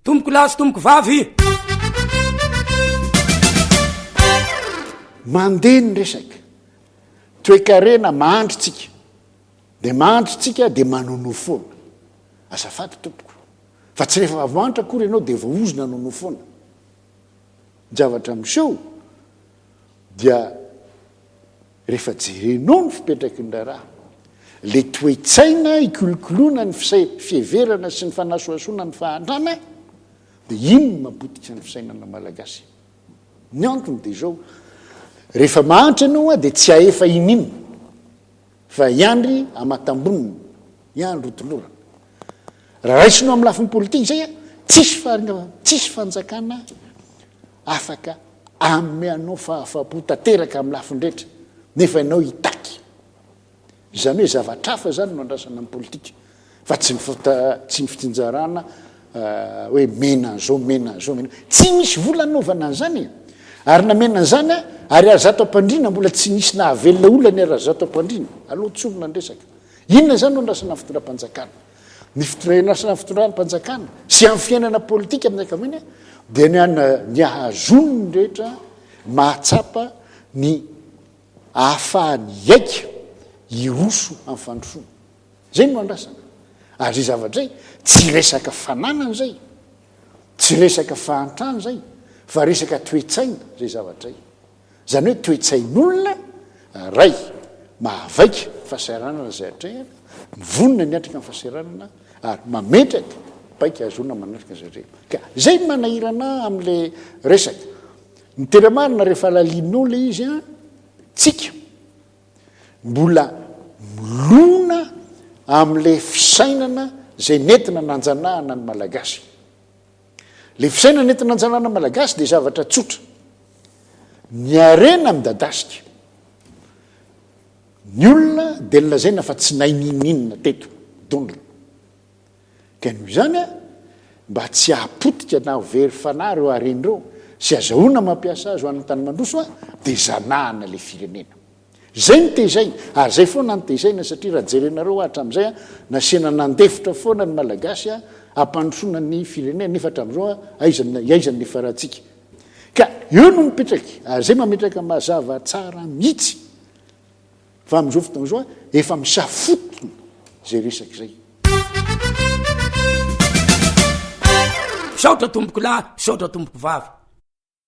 Tompoko lahy sy tompoko vavy. Mandeha ny resaka. Toekarena mahandry tsika. Dia mahandry tsika dia manonoa foana. Azafady tompoko. Fa tsy rehefa avy mahantra akory ianao dia voahozona anonoa foana. Ny zavatra miseho dia rehefa jerenao ny fipetraky ny raharaha, ilay toe-tsaina hikolokoloana ny fiheverana sy ny fanasohasoana ny fahantrana, dia iny no mapotika ny fisainana malagasy. Ny antony dia izao, rehefa mahantra ianao dia tsy ahefa iniana fa hiandry amatambonina, hiandry ho tolorana. Raha raisinao amin'ny lafiny politika izay, tsisy fanjakana Afaka hanome anao fahafapo tanteraka amin'ny lafiny rehetra nefa ianao hitaky. Izany hoe zavatra hafa izany no andrasana amin'ny politika fa tsy tsy ny fitsinjarana hoe mena an'izao, mena an'izao, mena an'izao. Tsy misy vola hanaovana an'izany e! Ary namena an'izany aho ary Razato Ampandriana mbola tsy nisy nahavelona olona ny Razato Ampandriana. Aleo tsorina ny resaka. Inona izany no andrasana ny fitondram-panjakana? ny fitondranaasna ny fitondram-panjakana sy amin'ny fiainana politika amin'ny ankamiana dia ny an ny ahazony ny rehetra mahatsapa ny ahafahany iaika iroso amin'ny fandrosoana zay no andrasana ary zay zavatra zay tsy resaka fananana zay tsy resaka fahantrana zay fa resaka toetsaina zay zavatra zay Izany hoe toe-tsain'olona iray mahavaika ny fahasahiranana izay atrehina, mivonona ny hatrika ny fahasahiranana ary mametraka paika hahazoana manatrika izay atrehina. Ka izay no manahirana ahy amin'ilay resaka. Miteny marina rehefa halalin'olona izy an, tsika mbola milona amin'ilay fisainana izay nentina nanjanahana ny Malagasy. Ilay fisainana entina anjanahana malagasy dia zavatra tsotra. Ny harena midadasika. Ny olona dia nilazaina fa tsy nahay ninoninona teto dondrona. Ka noho izany mba tsy hahapotika na ho very fanahy ireo harena ireo sy azahoana mampiasa azy ho an'ny tany mandroso dia zanahana ilay firenena. Zay no tezaina ary zay foana no tezaina satria raha jerenareo ah hatramin'izay ah nasiana nandefitra foana ny malagasy ah hampandrosoana ny firenena nefa hatramin'izao ah aiza ny aiza ny nifarantsika ka eo no mipetraky ary zay mametraka mazava tsara mihitsy fa amin'izao fotoana izao ah efa misafotona zay resaka zay. Misaotra tompoko lahy, misaotra tompoko vavy.